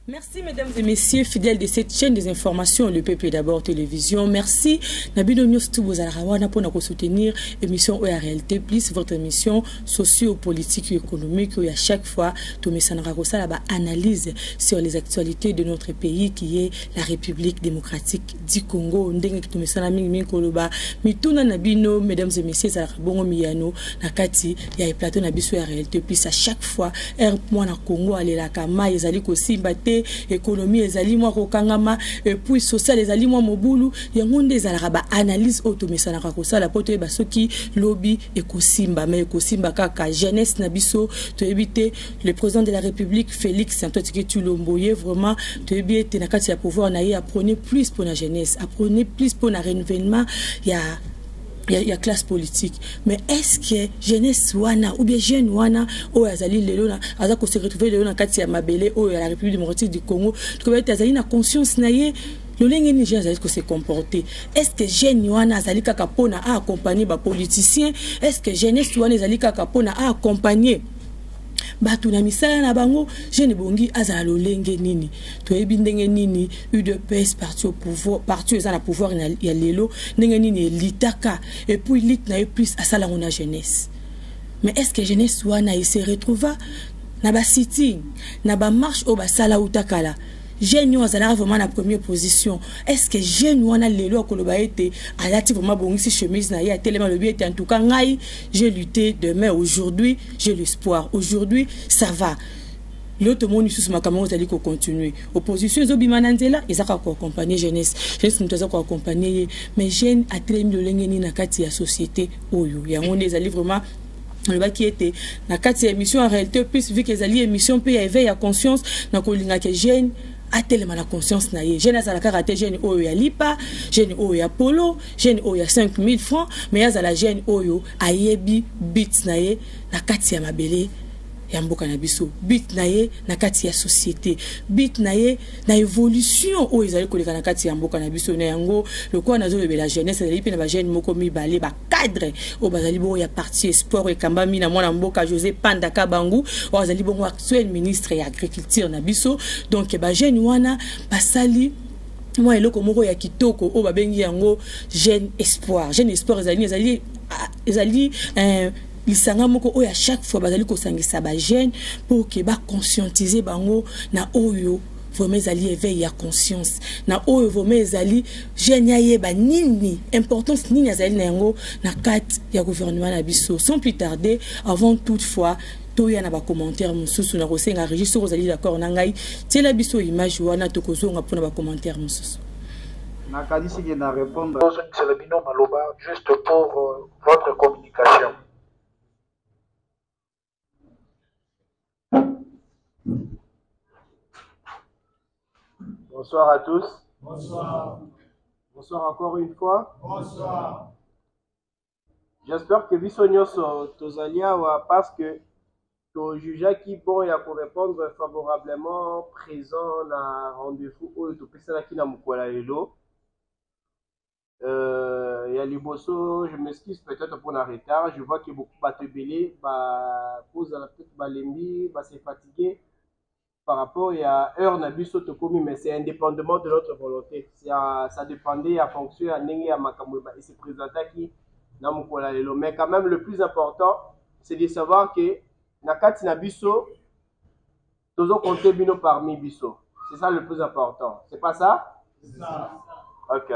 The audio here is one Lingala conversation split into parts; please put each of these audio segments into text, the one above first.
Merci mesdames et messieurs fidèles de cette chaîne des informations le peuple d'abord télévision merci na bino nyonso tu bozalaka wana mpona kosoutenir émission oyo ya réalité plus votre émission socio-politique et économique oyo à chaque fois tomesanaka kosala baanalyse sur les actualités de notre pays qui est la république démocratique di congo ndenge tomesana mingimingi koloba mituna na bino mesdames et messieurs ezalaka bongo miyano na kati ya eplateau na biso ya réalité plus à chaque fois heure mwana congo alelaka mai ezali kosimba te économie ezali mwa kokangama epuis social ezali mwa mobulu yango nde ezalaka baanalyse oyo tomesanaka kosala mpo toyeba soki lobi ekosimba mai ekosimba kaka jeunesse na biso toyebi te le président de la république félix antoine tshisekedi tshilombo ye vraiment toyebi ete na kati ya pouvoir na ye aprenait plus mpo na jeunesse aprenait plus mpo na renouvellement ya ya, ya classe politique mais est ce que jeunesse wana ou bien jeune wana oyo azali lelo na aza ko se retrouver lelo na kati ya mabele oyo ya la république démocratique du congo tokoba ete azali na conscience na ye lolenge nini jeune azali kose comporte est ce que jeune wana azali kaka mpona aaccompagne bapoliticien est ce que jeunesse wana ezali kaka mpona aaccompagne bato na misala na bango jeune ebongi azala lolenge nini toyebi ndenge nini udps parti au pouvoir parti eza na pouvoir ya lelo ndenge nini elitaka epuis lite na ye plus asala yango na jeunesse mais est ce que jeunesse wana ese retrouva na basitting na bamarche oyo basala uta kala jeune oyo azalaka vraiment na première position est ce que jeune wana lelo akoloba ete alati vraiment abongisi chemise na ye atelema alobi ete en tout cas ngai je lutte demain aujourd'hui j'ai l'espoir aujourd'hui ça va lelo tomoni lisusu makambo yango ezali kocontinue opposition ezobima na nzela eza kaka koaccompagne jeunesse jeunesse moto aza koaccompagne ye mais jeune atelemi lolenge nini na kati ya société oyo yango nde ezali vraiment nalobaki ete na kati ya émission ya réalité plus vu que ezali émission mpe ya éveil ya conscience nakolingaka jeune atelema na conscience na ye jeune azala kaka te jeune oyo ya lipa jeune oyo ya polo jeune oyo ya 5000 francs mais azala jeune oyo ayebi bit na ye na kati ya mabele ya mboka na biso but na ye na kati ya société but na ye na évolution oyo ezali koleka na kati ya mboka na biso na yango lokola nazolobela jeunesse ezali mpe na bajeune moko mibale cadre oyo bazali bongo ya parti esport ekambami na mwana mboka josé panda kabangu oyo azali bongo actuel ministre ya agriculture na biso donc bajeune wana basali mwa eloko moko ya kitoko oyo babengi yango jeune espoir jeune espoir ezali ezali ah, ezali eh, lisanga moko oyo à chaque fois bazali kosangisa bajeune mpo ke baconscientise bango na oyo vraiment ezali éveil ya conscience na oyo vraiment ezali jeune ayeba nini importance nini azali na yango na kati ya gouvernement na biso sans plus tarder avant toute fois toya na bacommentaire mosusu na kosenga regi soki ozali d'accord na ngai tiela biso image wana tokozonga mpona bacommentaire mosusu nakanisi ke na répondre ozongisela bino maloba juste pour euh, votre communication Bonsoir à tous. Bonsoir. Bonsoir encore une fois. Bonsoir. J'espère que biso nyonso tozali awa parce que tojujaki bon ya korépondre favorablement présent na rendez-vous oyo topesanaki na mokolo ya lelo Euh, ya liboso je m'excuse peut-être mpo na retard je vois que beaucoup bato ebele bakozala peut-être balembi base fatigue par rapport ya heure na biso tokomi mais c'est indépendamment de notre volonté ça, ça dépendait ya fonction ya ndenge ya makambo ese présentaki na mokolo ya lelo mais quand même le plus important c'est de savoir que na kati na biso Tozo compter bino parmi biso. C'est ça le plus important. C'est pas ça? ça. Ok.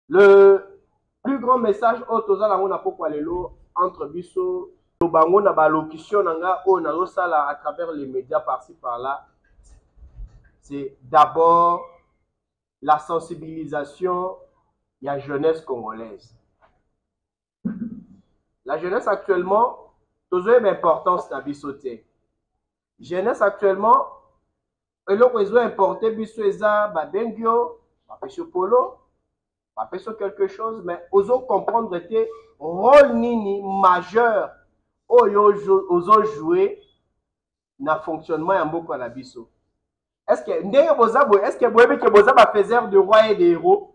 Le plus grand message oyo toza nango na pokwa lelo entre biso loba yango na balocution na nga oyo nazosala à travers les médias parci par là c'est d'abord la sensibilisation ya jeunesse congolaise la jeunesse actuellement tozoyeba importance na biso te jeunesse actuellement eloko ezo importe biso eza babengi yo bapesi yo polo bapesi yo quelque chose mais ozo comprendre te rôle nini majeur oyo ozo joue na fonctionnement ya mboka na biso est ce que ndenge boza boye est ce que boyebi ke boza bafaiseur de roi et de héros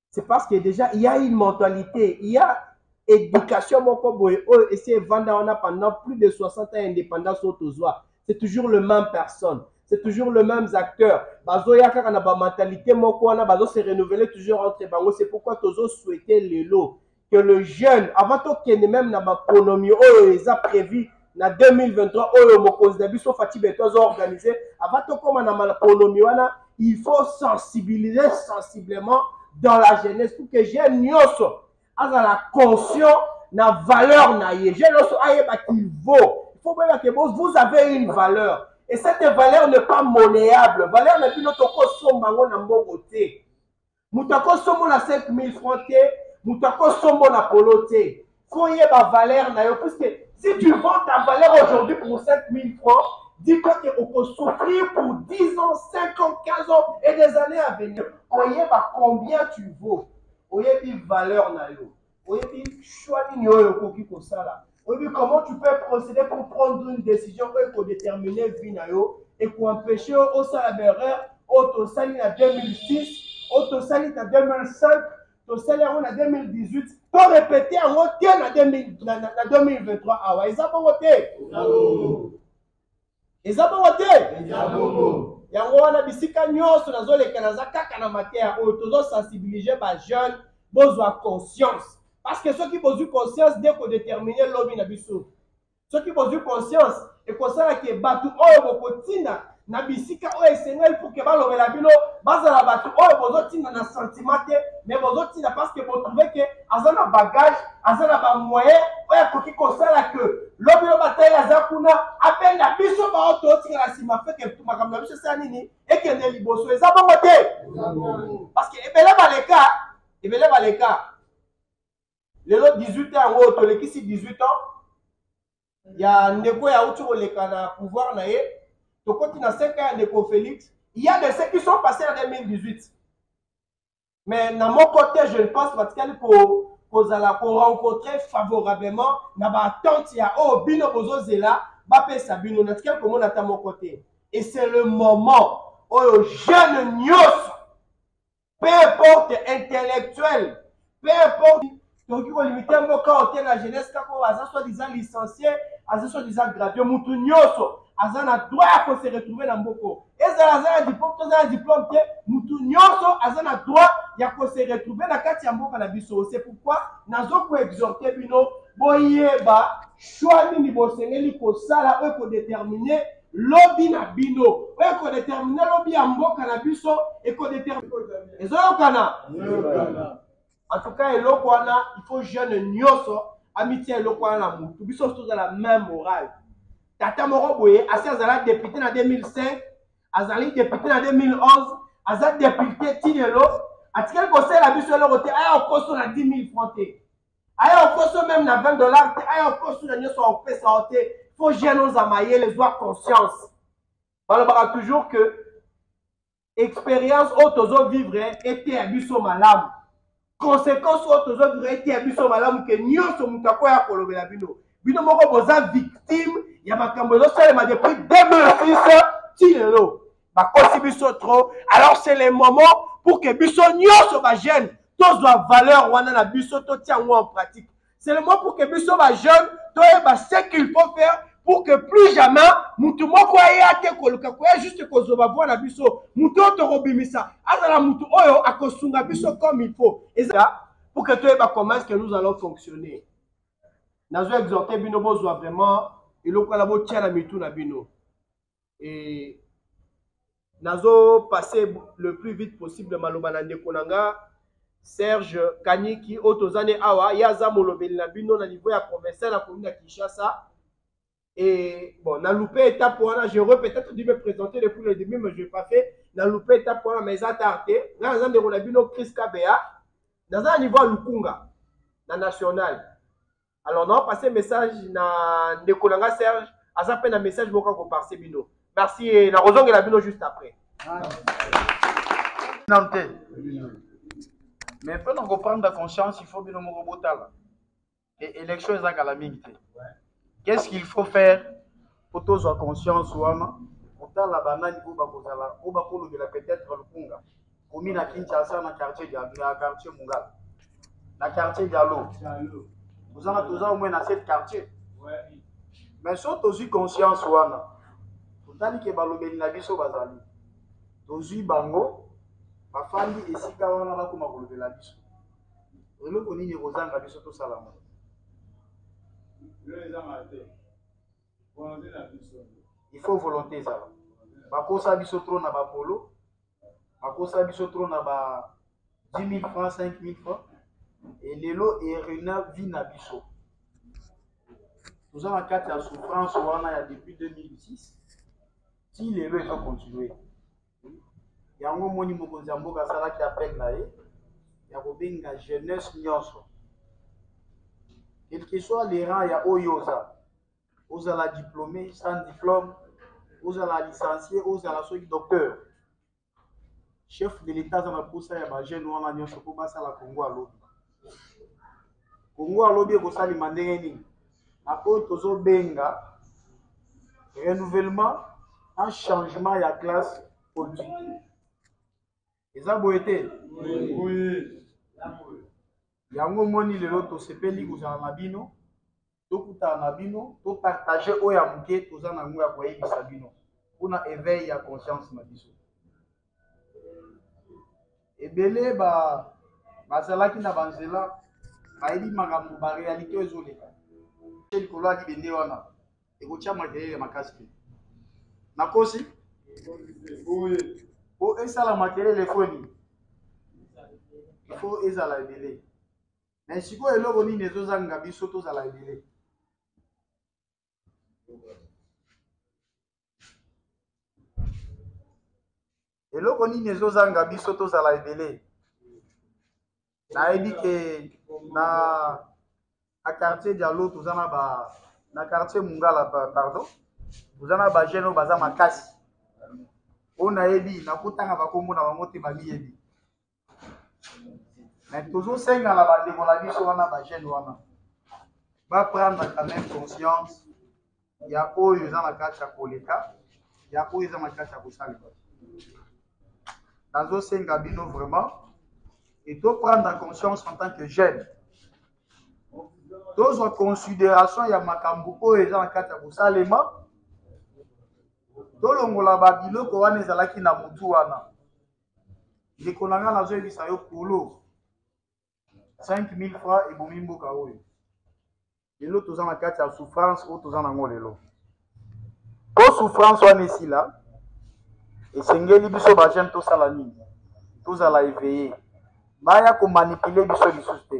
c'est parce que déjà il y a une mentalité il y a éducation moko boye oyo esi evanda wana pendant plus de 60 ans ya indépendance oyo tozwa c'est toujours le même personne c'est toujours le même acteur bazoya kaka na bamentalité moko wana bazo se renouveler toujours entre bango c'est pourquoi tozo souhaite lelo que le jeune avant tokende meme na bakonomi oyo eza prévu na 2023 oyo mokonzi na biso fati beto azo organise avant tokóma na makonomi wana il faut sensibiliser sensiblement dans la jeunesse pour que jeune nyonso azala conscient na valeur na ye jeune nyonso ayeba qu'il vaut il faut boyeba que vous avez une valeur et cette valeur n'est pas monnéable valeur na bino tokosomba yango na mbongo te moto akosombola 5000 francs te moto akosombola polo te faut yeba valeur na yo puisque si tu vends ta valeur aujourd'hui pour 5000 francs dis-toi que okosouffrir pour 10 ans 5 ans 15 ans et des années à venir oyeba combien tu vaux oyebi valeur na yo oyebi choix nini oyo okoki kosala oyebi comment tu peux procéder pour prendre une décision oyo ekodetermine vie na yo ekoempêche yo osala berreur oyo tosali na 2006 oyo tosali na 2005 tosali yango na 2018 to répéte yango te na 2023 awa eza bongo te eza bongo te eza bongo yango wana bisika nyonso nazoleka naza kaka na mateya oyo tozosensibilise bajeune bozwa conscience parce que soki bozwi conscience nde kodetermine lobi na biso soki bozwi conscience ekosala ke bato oyo bokotinda na bisika oyo esengeli pour ke balobela bino bazala bato oyo bozotinda na sentiment te mais bozotinda parce que botrouve ke aza na bagage aza na bamoyen oyo akoki kosala ke lobi lobi ata ye aza kuna abenga biso baoyo totikala nsima feke makambo na biso esala nini ekende liboso eza bongo te parce que ebele baleka ebele baleka lelo 18 ans yango oyo tolekisi 18 ans ya ndeko ya uti koleka na pouvoir na ye tokoti na 5 ans ya ndeko félix il y a de ceux qui sont passés en 2018 mais na moko te je ne pense batikali ko kozala ko rencontrer favorablement na ba attente ya oyo oh, bino bozozela bapesa bino natikali komona ata moko te et c'est le moment oyo jeune nyonso peu importe intellectuel peu importe tokoki kolimite mboka oyo te na jeunesse kaka oyo aza soit disant licencie aza soit disant gradue motu nyonso aza na droit ya kose retrouve na mboko ezala aza na diplome to aza na diplome te motu nyonso aza na droit ya kose retrouve na kati ya mboka na biso se pourkui nazo koexorte bino boyeba choix nini bosengeli kosala oyo ekodetermine lobi na bino oyo ekodetermine lobi ya mboka na biso ekodetermine ezoyokana en tout cas eloko wana il faut jeune nyonso amitia eloko wana na motu biso nyonso tozala main morale tata moko boye asi azala depute na 2005 azali depute na 2011 aza depute ti lelo atikali kosalela biso eloko te aya okoso na 10 000 franc te aya okoso meme na 20 dollar te aya okoso na nyonso akopesa yo te fo jeune oza mayele zwa conscience balobaka toujours que expérience oyo tozo vivre eteya biso malamu conséquence oyo tozo vivre eteya biso malamu ke nyonso moto akoya kolobela bino bino moko boza victime ya makambo ezosalema depuis 2006 ti lelo bakosi biso trop alors c'est le moment pour que biso nyonso bajeune tozwa valeur wana na biso totia yango en pratique seulement pour que biso ba jeune toyeba ce qu'il faut faire pour que plus jamais mutu moko aya te koluka koya juste kozoba voi na biso mutu oyo tokobimisa azala mutu oyo akosunga biso comme il faut eza pour que toyeba comment est ce que nous allons fonctionner nazo exhorte bino bozwa vraiment eloko wana botia na mitu na bino et nazo passer le plus vite possible maloba na ndeko na nga serge kaniki oyo toza ne awa ye aza molobeli na bino na niveau ya provincial akomi na kinshasa et bon na loupe étape wana je re peut-être dû me présenter depuis le début mais je pas fait na loupe étape wana mais eza tard te nga naza ndeko na bino chris kabea naza na niveau ya lukunga na national alors na passe message na ndeko na nga serge aza mpe na message moko akoparse bino merci eh, nakozongela bino juste après nanu te mais mpo na koprendre conscience il faut bino moko botala e élection eza kala mingi te qu'est ce qu'il faut faire po tozwa conscience wana kotala banani oyo bakozala oyo bakolobela peut-être lukunga komi na kinshasa na quartier na quartier mungala na quartier dialo tozana toza omwe na cette quartier mais so tozwi conscience wana totali ke balobeli na biso bazali tozwi bango bafandi esika wana bakoma kolobela biso eloko nini ekozanga biso tosala ngo il faut volonté ezala bakosa biso trop na bapolo bakosa biso trop na ba 10 000 francs 5 000 francs e lelo erena vi na biso toza na kati ya souffrance wana ya depuis 2006 ti lelo ezo continue yango omoni mokonzi ya mboka asalaki appel na ye ya kobenga jeunesse nyonso quelque soit le rang ya oyo oza ozala diplômé sans diplôme ozala licencie ozala soki docteur chef de l'état aza na mposa ya bajeune wana nyonso mpo basala congo alobi kongo alobi ekosalema ndenge nini na oyo tozobenga renouvellement un changement ya classe politique eza boye te yango omoni lelo tosepeli kozala na bino tokutana na bino topartage oyo ya moke toza na yango ya koyebisa bino mpona éveil ya conscience na biso ebele ba bazalaki na banzela bayebi makambo barealité oyo ezoleka te likolo ya libende wana ekotya makelele makasi te nakosi po esala makelele foni ifo ezala ebele me sikoyo eloko nini ezozanga biso tozala ebele eloko nini ezozanga biso tozala ebele nayebi ke na na quartier dialo toza na ba na quartier mungala pardon toza na bajeune oyo baza makasi oyo nayebi nakotanga bakombo na bango te bamiyebi me tozosenga na bandeko na biso wana bajeune wana baprendre quand même conscience ya oyo eza na kati ya koleka ya oyo eza na kati ya kosalema nazosenga bino vraiment e toprendre conscience en tant que jeune tozwa considération ya makambo oyo eza na kati ya kosalema tolongola babiloko wana ezalaki na motu wana ndeko na nga nazoyebisa yo polo 5000 francs ebomi mboka oyo lelo toza na kati ya souffrance oyo toza na yango lelo po souffrance wana esila esengeli biso bajeune tosala nini tozala eveille baya komanipule biso lisusu te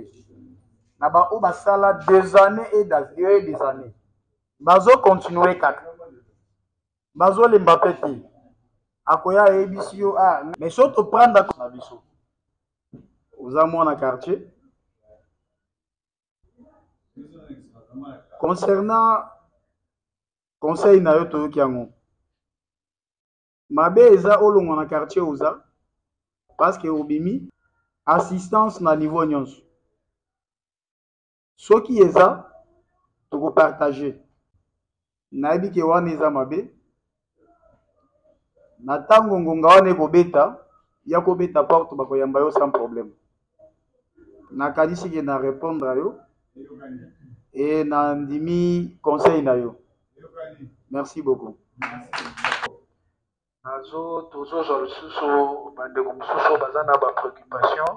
na baoyo basala des années et des années bazokontinue kaka bazolemba pe te akoya ayebisi yo ah, mais so topranda na biso oza mwana quartier concernant conseil na yo toyoki yango mabe eza olongwa na quartier oza parce que obimi assistance na niveau nyonso soki eza tokopartage nayebi ke wana eza mabe na ntango ngonga wana ekobeta ya kobeta porte bakoyamba yo sans problème nakanisi ke na répondre yo e nandimi conseil na yo merci beaucoup merci. nazo tozozwa lisusu bandeko mosusu oyo baza na bapreoccupation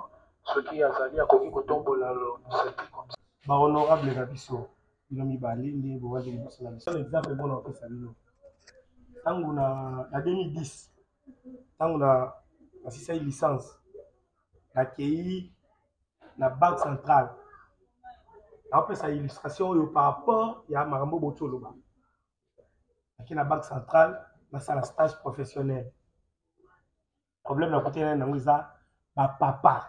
soki azali akoki kotombola mosapi bahonorable na biso bino mibale nde bowaki liboso na biso exemple mpona kopesa bino ntango na 2010 ntango na nasisaki licence nakei na banque centrale naopesa illustration oyo par rapport ya makambo botoloba ake na banque centrale nasala stage professionnel problème na kutana na yango eza bapapa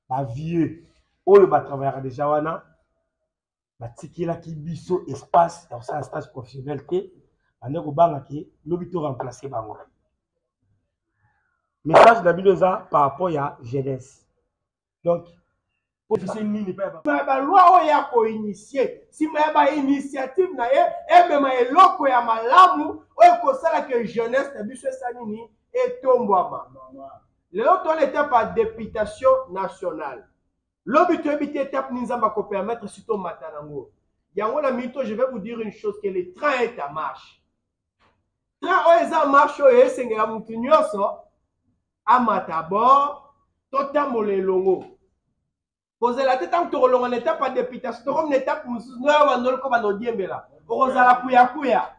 bavieux oyo batravayaka deja wana batikelaki biso espace ya kosala stage professionnel te bande kobanga ke lobi to remplace bango message na bino eza par rapport ya jeunesse donc balwa oyo ya koinitie nsima ya bainitiative na ye emema eloko ya malamu oyo ekosala ke jeunesse na biso esa nini etombwama lelo toona etape ya deputation nationale lobi toyebi te etape nini nzambe akopermettre si tomata nango yango na mito je vais vous dire une chose que le train est à marche train oyo eza marche oyo esengela motu nyonso amata bord totambola elongo kozela te ntango tokolonga na etape ya deputation tokomi na etape mosusu noyo bandoli ko banda odiembela okozala kuyakuya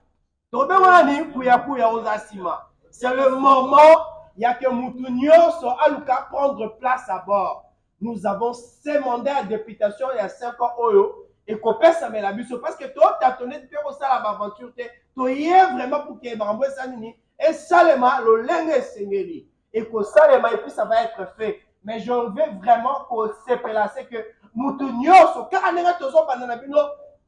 tokobenga nani kuyakuya oza nsima c'est le moment ya ke motu nyonso aluka prendre place à bord nous avons ce mandat ya députation ya 5 ans oyo ekopesamela biso parce que totatone mpe kosala baaventure te toye vraiment pour ke makambo esa nini esalema lolenge esengeli ekosalema epuis ça va être fait mais je veux vraiment kosepela se que motu nyonso kaka ndenge tozobanda na bino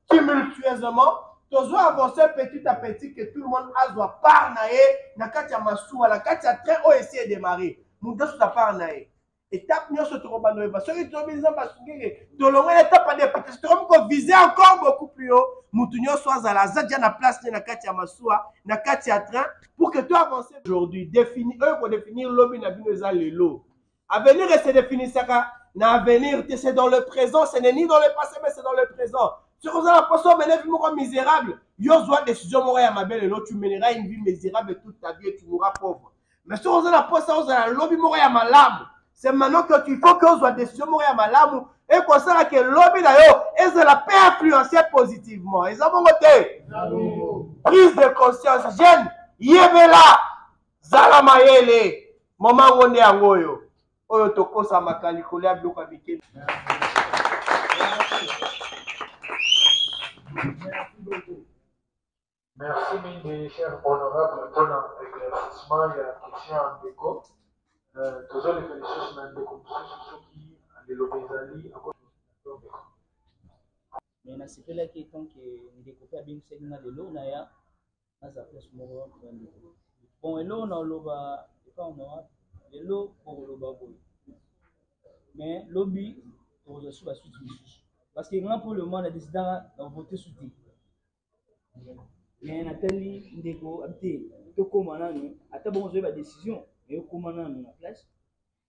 tumultueusement tozo avance petit à petit que tout le monde azwa part na ye na kati ya masuwa na kati ya train oyo esi edemare moto azuta part na ye etape nyonso tokobanda oyeba soki toyebi nzambe asungenge tolongoli etape ya deputation tokomi kovise encore beaucoup plus haut motu nyonso azala aza dia na place ne na kati ya masuwa na kati ya train pour que to avance aujourd'hui défini oyo kodefinir lobi na bino eza lelo avenir ese definisaka na avenir te c'est dans le présent ce n'est ni dans le passé mais c'est dans le présent soki oza na poso omene vie moko misérable yo zwa décision moko ya mabe lelo tu menera une vie misérable toute ta vie et tu mourras pauvre mais soki oza na mposa ozala lobi moko ya malamu c'est maintenant que tu faut que ozwa décision moko ya malamu ekosala ke lobi na yo ezala mpe influence positivement eza bongo te prise de conscience jeune yebela zala mayele moma yango nde yango oyo oyo tokosamaka likolo ya biloko ya mikeli Merci mingi cher honorable mpona éclaircissement ya question ya ndeko euh, tozoleka lisusu na ndeko mosusu soki liloba ezali me nasepelaki etanke ndeko mpe abengisaki nga lelo naya naza place moko ya ndeko bon eloko naoloba epa honorable lelo kokoloba boye me lobi tokozwa su basuti mosusu parce que nga mpo le mois na desidaka na vote su te mais natali ndeko abite tokoma nanu ata bongo ozoyeba decision mais okoma nanu na place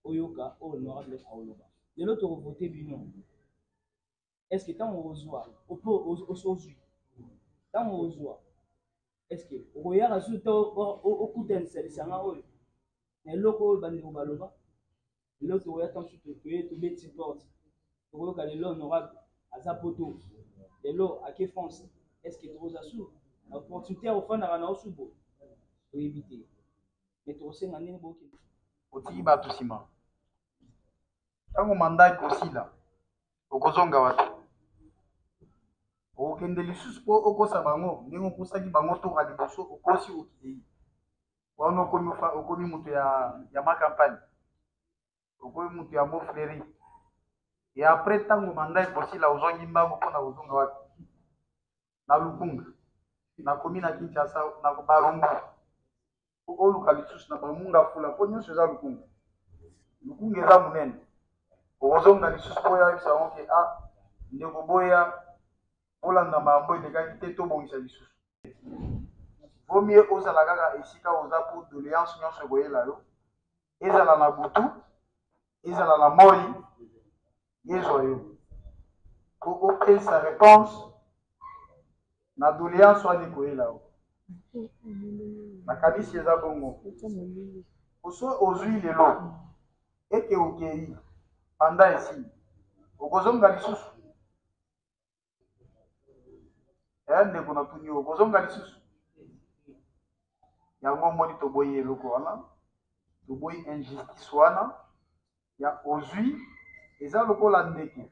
oyoka oyo honorable aoloba lelo tokovote bino est ce que ntango okozwa opo ozwi ntango okozwa est ce que okoyaka susu to okutanisa lisanga oyo na eloko oyo bandeko baloba lelo tokoya ntango mosusu toye tobeti porte tokoyoka lelo honorable aza poto lelo ake france est ce que tokoza su na opportunité ya kofandaka na osu bo toyebi te me tokosenga ndenge bokende otiki bato nsima ntango manda ekosila okozonga wapi okokende lisusu mpo okosa bango ndenge okosaki bango toka liboso okosi okei wana okomi okomi moto ya ya ma campagne okomi moto ya mo fleri e après ntango manda ekosila ozongi mbango mpo na kozonga wapi na lukunga nakomi na kinshasa na barumbu oluka lisusu na bamunga fula mpo nyonso eza lukunga lukunga eza monene okozonga lisusu mpo oyebisa yango ke a ah, ndeko boya kolanda makambo elekaki te tobongisa lisusu vomie ozala kaka esika oza mpo doleance nyonso ekoyela yo ezala na butu ezala na moi ezwa yo mpo opesa réponse na doleance wana ekoyela yo nakanisi eza bongo oso ozwi lelo ete okei panda esi okozonga lisusu eya eh, ndeko na tuni yo kozonga lisusu yango omoni toboyi eloko wana toboyi injustice wana ya ozwi eza lokola ndeke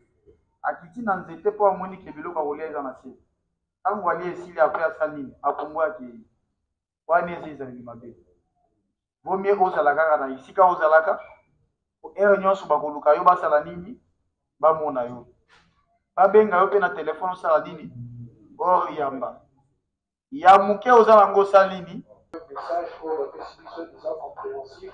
akiti na nzete mpo amoni ke biloko akolia eza na se ntango alia esili apre asali nini akongo akei wana eza ezali mabe vaut mieux ozala kaka na esika ozalaka po heure nyonso bakoluka yo basala nini bamona yo babenga yo mpe na telefone osala nini oyamba ya moke oza nango osali nini message oyo bapesi biso eza compréhensif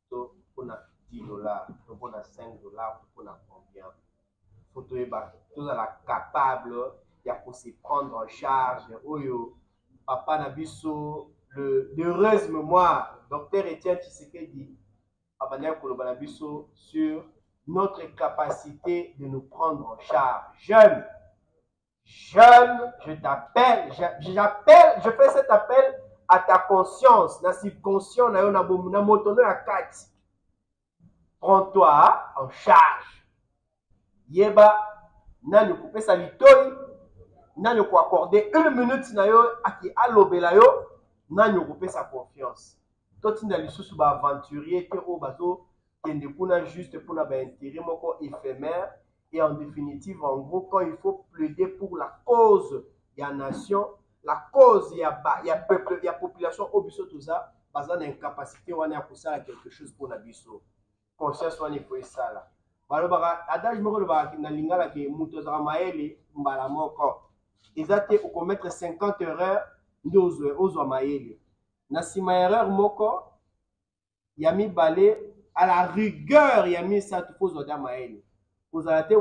to mpona 10 dollars to mpona 5 dollars to mpona combien fo toyeba tozala capable ya ko se prendre en charge oyo papa na biso le heureuse mémoire docteur etienne tshisekedi abandaki koloba na biso sur notre capacité de nous prendre en charge jeune Jeune, je t'appelle, j'appelle, je fais cet appel à ta conscience, na subconscient na yo na bomu na moto no ya kati. Prends-toi en charge. Yeba nani kopesa litoi, nani ko accorder une minute na yo aki alobela yo, nani kopesa confiance. Totinda lisusu ba aventurier te oyo bazo kende kuna juste mpona ba intérêt moko éphémère et en définitive en gros quand il faut plaider pour la cause ya nation la cause ya, ba, ya peuple ya population oyo biso toza baza na incapacité wana ya kosala quelque chose mpo na biso conscience wana ifo esala balobaka adage moko elobaka na lingala ke moto azalaka mayele mbala moko eza te okomettre 50 erreur nde ozwa mayele na nsima ya erreur moko ya mibale à la rigueur ya misato mpo ozwa da mayele kozala te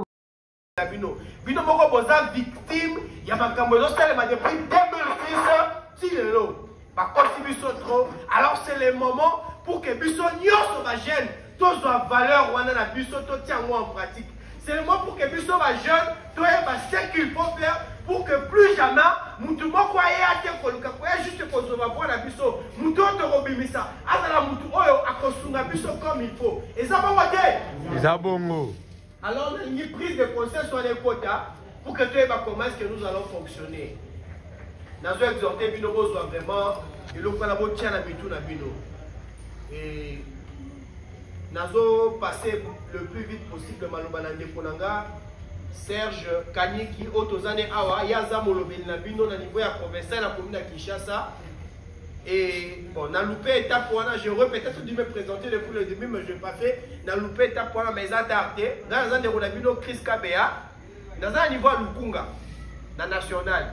na bino bino moko boza victime ya makambo ezosalema depuis 2006 ti lelo bakosi biso trop alors c'est le moment pour que biso nyonso bajeune tozwa valeur wana na biso totia yango en pratique Seulement pour que biso ba jeunes toyeba ce qu'il faut faire pour que plus jamais mutu moko aya te koluka koya juste kozwa bwa na biso mutu oyo tokobimisa azala mutu oyo akosunga biso comme il faut eza bongo te eza bongo alors nalingi prise de conscience wana ekota pour que toyeba comment est ce que nous allons fonctionner nazo exhorte bino bozwa vraiment eloko wana botia na mitu na bino Nazo passer le plus vite possible maloba na ndeko na nga Serge Kaniki oyo toza ne awa ye aza molobeli na bino na niveau ya provincial ya commune ya Kinshasa et bon na loupé étape wana je peut-être dû me présenter depuis le début mais je pas fait na loupé étape wana mais eza tard te ngai naza ndeko na bino Chris Kabeya naza na niveau ya lukunga na national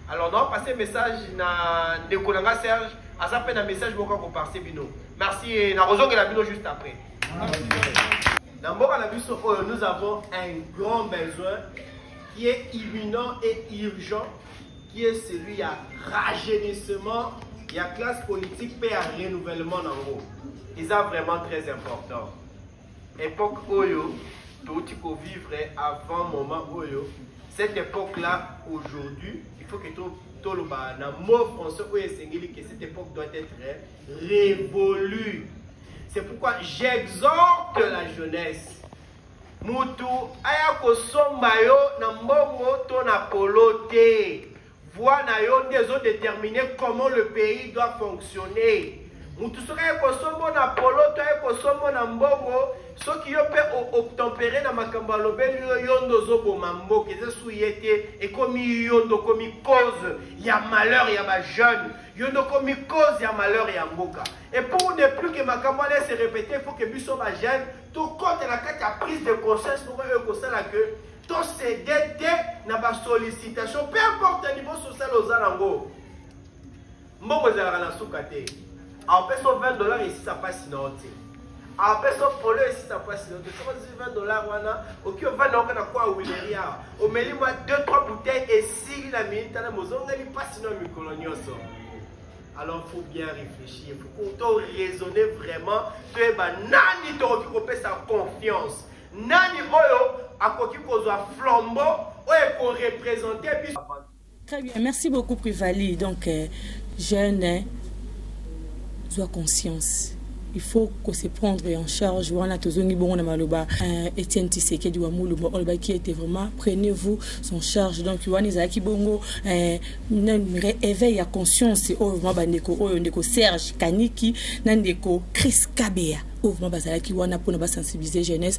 alors nao passe message na ndeko na nga serge aza mpe na message moko akoparse bino merci eh, nakozongela bino juste après na mboka na biso oyo nous avons un grand besoin qui est imminent et urgent qui est celui ya rajeunissement ya classe politique mpe ya renouvellement na yango eza vraiment très important Epoque oyo touti ko vivre avant moment oyo cette époque là aujourd'hui il faut que to toloba na mot français oyo esengeli que cette époque doit être révolue c'est pourquoi j'exhorte la jeunesse mutu aya kosomba yo na mbongo to na polo te Voix na yo nde ezo determiner comment le pays doit fonctionner. Mutu soki aye kosombo na polo to aye kosombo na mbongo soki yo mpe obtempere na makambo alobeli yo yo nde ozoboma mboka eza su ye te ekomi yo nde okomi cause ya malheur ya bajeune yo nde okomi cause ya malheur ya mboka et pour ne plus que makambo wana ese répéter il faut que biso bajeune tokotela kati ya prise de conscience moko oyo ekosala que To cede te na ba sollicitation peu importe niveau social oza nango. Mbongo ezalaka na suka te. Apesa 20 dollars esisa pasi na yo te. Apesa polo esisa pasi na yo te. Soko 20 dollars wana oki ovanda oka na kwa wileri awa. Omeli mwa 2 3 bouteilles esili na minute na mozongeli pasi na mikolo nyonso. alors faut bien réfléchir faut to raisonner vraiment toyeba nani tokoki kopesa confiance Nani oyo akoki kozwa flambo oyo ekorepresente biso Très bien, merci beaucoup Privali. Donc, euh, jeune, hein, sois conscience. Il faut qu'on se prendre en charge. Wana tozongi bongo na maloba. Euh, Etienne Tshisekedi wa Mulumba Olba qui était vraiment prenez-vous son charge. Donc wana ezalaki bongo euh, na réveil ya conscience oyo vraiment bandeko oyo ndeko Serge Kaniki na ndeko Chris Kabea. oyo vraiment bazalaki wana mpona basensibilize jeunesse